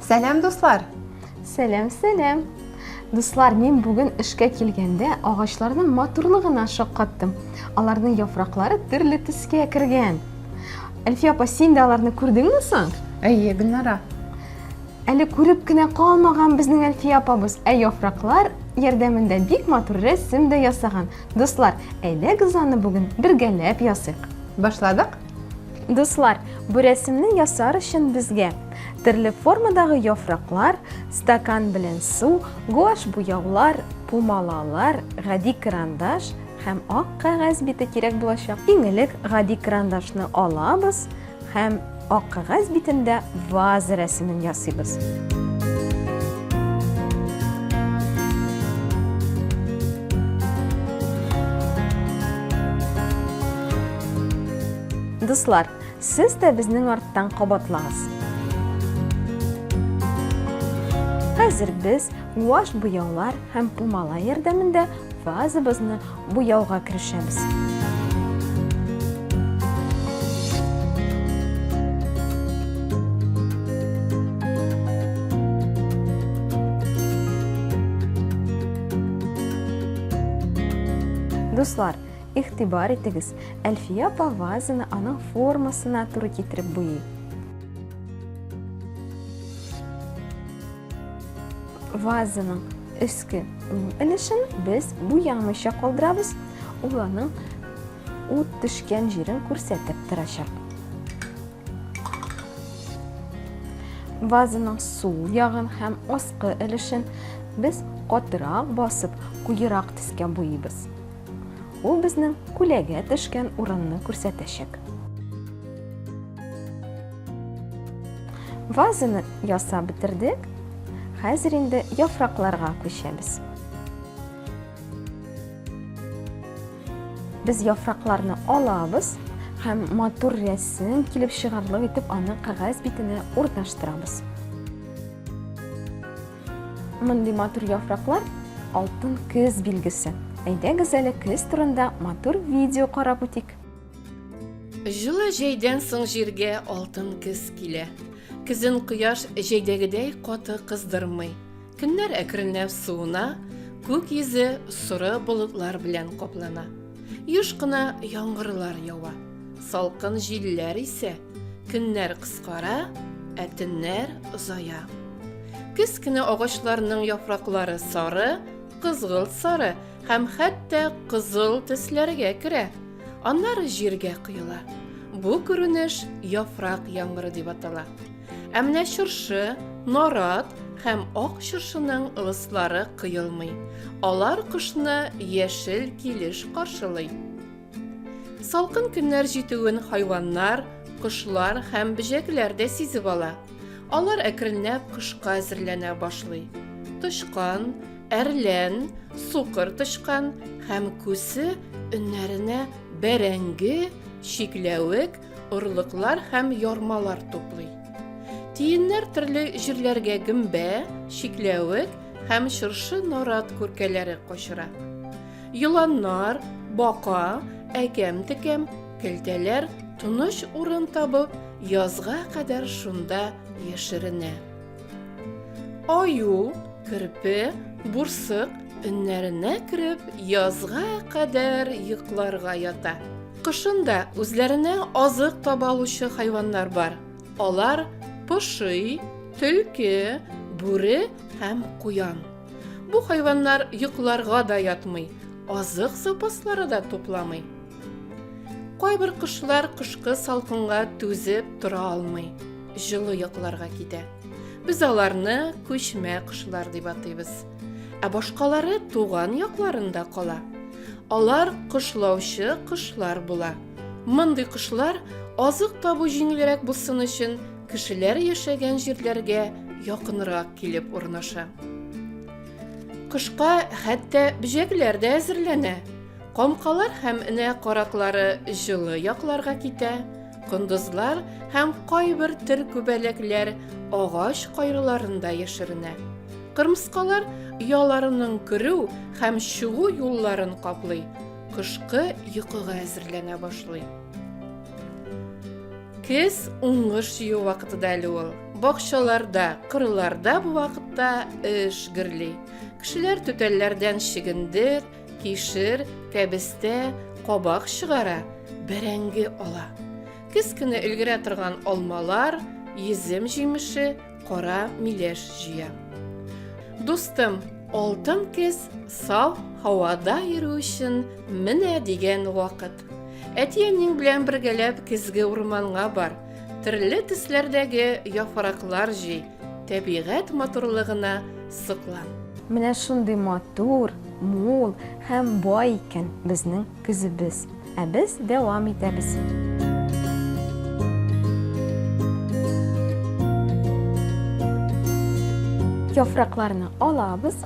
Сәлам, дуслар! Сәлам, сәлам! Дуслар, мин бүген эшкә килгәндә агачларның матурлыгына шаккаттым. Аларның яфраклары төрле төскә кергән. Әлфия апа, син дә аларны күрдеңме соң? Әйе, Гөлнара. Әле күреп кенә калмаган безнең Әлфия апабыз, ә яфраклар ярдәмендә бик матур рәсем дә ясаган. Дуслар, әйдәгез аны бүген бергәләп ясыйк. Башладык? Дуслар, бу рәсемне ясар өчен безгә төрле формадагы яфраклар, стакан белән су, гуаш буяулар, пумалалар, гади карандаш һәм ак кәгазь бите кирәк булачак. Иң элек гади карандашны алабыз, Һәм ак кәгазь битендә ваза рәсемен ясыйбыз. Дуслар, сез дә безнең арттан кабатлагыз. Хәзер без ваш буяулар һәм пумала ярдәмендә вазабызны буяуга керешәбез. Дуслар, игътибар итегез, Әлфия апа вазаны аның формасына туры китереп буйый. Вазаның өске Бу өлешен без буямыйча калдырабыз, ул аның ут төшкән җирен күрсәтеп торачак. Вазаның сул ягын һәм аскы өлешен без катырак басып, куерак төскә буйыбыз. Ул безнең күләгә төшкән урынны күрсәтәчәк. Вазаны ясап бетердек. Хәзер инде яфракларга күчәбез. Без яфракларны алабыз һәм матур рәсем килеп чыгарлык итеп аны кәгазь битенә урнаштырабыз. Мондый матур яфраклар алтын көз билгесе. Әйдәгез әле көз турында матур видео карап үтик. Җылы җәйдән соң җиргә алтын кез килә. Кизен кояш җәйдәгедәй каты кыздырмый. Көннәр әкренләп суына, күк йөзе соры болытлар белән каплана. Юш кына яңгырлар ява. Салкын җилләр исә, көннәр кыскара, ә төннәр озая. Көз көне агачларның яфраклары сары, кызгылт сары Һәм хәтта кызыл төсләргә керә. Аннары җиргә коела. Бу күренеш яфрак яңгыры дип атала. Ә менә чыршы, нарат һәм ак чыршының ылыслары коелмый. Алар кышны яшел килеш каршылый. Салкын көннәр җитүен хайваннар, кошлар һәм бөҗәкләр дә сизеп ала. Алар әкренләп кышка әзерләнә башлый. Тычкан, Әрлән, сукыр тычкан һәм күсе өннәренә бәрәңге, чикләвек, орлыклар һәм ярмалар туплый. Тиеннәр төрле җирләргә гөмбә, чикләвек һәм чыршы нарат күркәләре качыра. Еланнар, бака, әкәм-текәм, келтәләр тыныч урын табып, язга кадәр шунда яшеренә. Аю, керпе, бурсык өннәренә кереп, язга кадәр йокларга ята. Кышында үзләренә азык таба алучы хайваннар бар. Алар пошый, төлке, бүре һәм куян. Бу хайваннар йокларга да ятмый, азык запаслары да тупламый. Кайбер кошлар кышкы салкынга түзеп тора алмый, җылы якларга китә. Без аларны күчмә кошлар дип атыйбыз. Ә башкалары туган якларында кала. Алар кошлаучы кошлар була. Мондый кошлар азык табу җиңелрәк булсын өчен кешеләр яшәгән җирләргә якынрак килеп урнаша. Кышка хәтта бөҗәкләр дә әзерләнә. Комкалар һәм энә караклары җылы якларга китә, кондызлар һәм кайбер төр күбәләкләр агач кайрыларында яшеренә. Кырмыскалар ояларының керү һәм чыгу юлларын каплый, кышкы йокыга әзерләнә башлый. Кез уңыш җыю вакыты да әле ул. Бакчаларда, кырларда бу вакытта эш гөрли. Кешеләр түтәлләрдән чигендер, Кишер, кәбестә, кабак чыгара, бәрәңге ала. Кез көне өлгерә торган алмалар, йөзем җимеше, кара миләш җыя. Дустым, алтын кез сау һавада йөрү өчен менә дигән вакыт. Әти-әниң белән бергәләп көзге урманга бар. Төрле төсләрдәге яфраклар җый, Тәбигать матурлыгына соклан. Менә шундый матур, мул һәм бай икән безнең көзебез. Ә без дәвам итәбез. Яфракларны алабыз,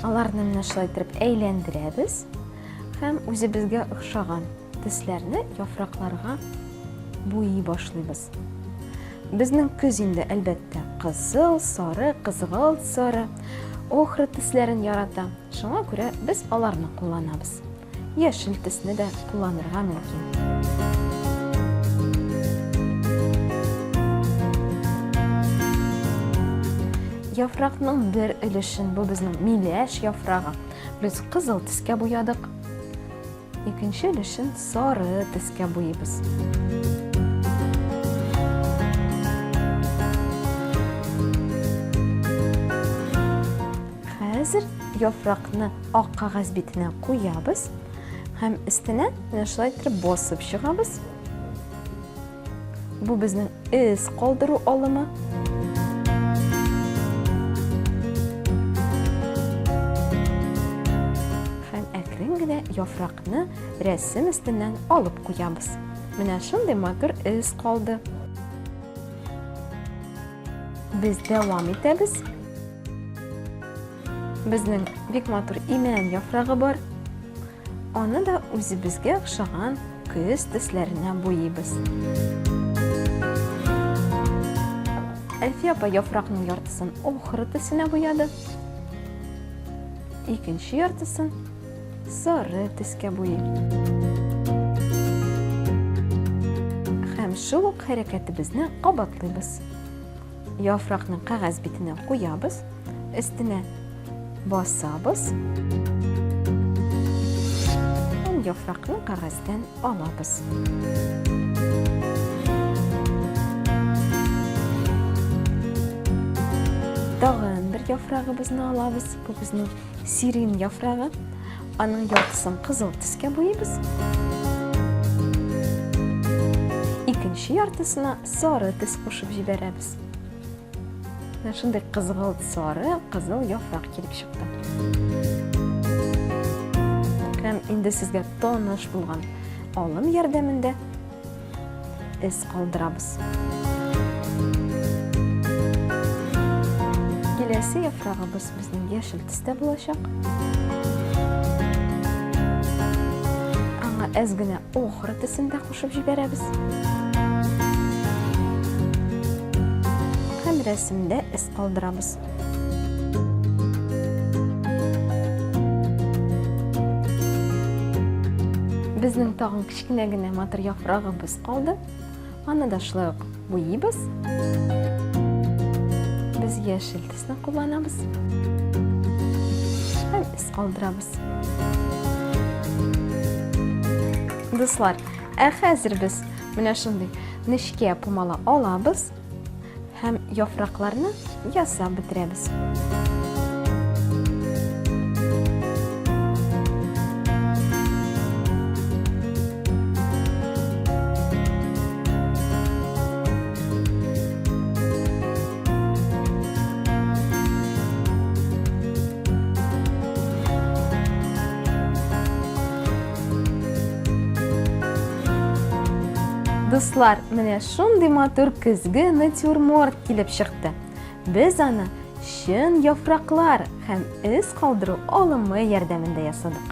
аларны менә шулай итеп әйләндерәбез һәм үзебезгә охшаган Тесләрне яфракларга буйый башлыйбыз. Безнең көз инде, әлбәттә, кызыл, сары, кызгылт, сары, охра тесләрен ярата. Шуңа күрә без аларны кулланабыз. Яшел тесне дә кулланырга мөмкин. Яфракның бер өлешен, бу безнең миләш яфрагы, без кызыл тискә буядык. Икенче өлешен сары төскә буйыйбыз. Хәзер яфракны ак кагаз битенә куябыз һәм өстенә менә шулай итеп басып чыгабыз. Бу безнең эз калдыру алымы. Һәм әкрен генә яфракны рәсем өстеннән алып куябыз. Менә шундый матур эз калды. Без дәвам итәбез. Безнең бик матур имән яфрагы бар. Аны да үзебезгә охшаган көз төсләренә буйыйбыз. Әлфия апа яфракның яртысын охра төсенә буяды. Икенче яртысын сары төскә буйый. Һәм шул ук хәрәкәтебезне кабатлыйбыз. Яфракны кәгазь битенә куябыз, өстенә басабыз. Һәм яфракны кәгазьдән алабыз. Тагын бер яфрагыбызны алабыз. Бу безнең сирин яфрагы. Аның яртысын кызыл төскә буйбыз. Икенче яртысына Сары төс кушып җибәрәбез. Менә шундый кызгылт сары, кызыл яфрак килеп чыкты. Һәм инде сезгә таныш булган алым ярдәмендә эз калдырабыз. Киләсе яфрагыбыз безнең яшел төстә булачак. Аңа әз генә охра төсен дә Кушып җибәрәбез. Һәм рәсемдә эз калдырабыз. Безнең тагын кечкенә генә матур яфрагыбыз калды. Аны да шулай ук буйыбыз. Без яшел Кулларыбызны кулланабыз һәм эз калдырабыз. Дуслар, ә хәзер без менә шундый нечкә пумала алабыз һәм яфракларны ясап бетерәбез. Дуслар, менә шундый матур көзге натюрморт килеп чыкты. Без аны чын яфраклар һәм эз калдыру алымы ярдәмендә ясадык.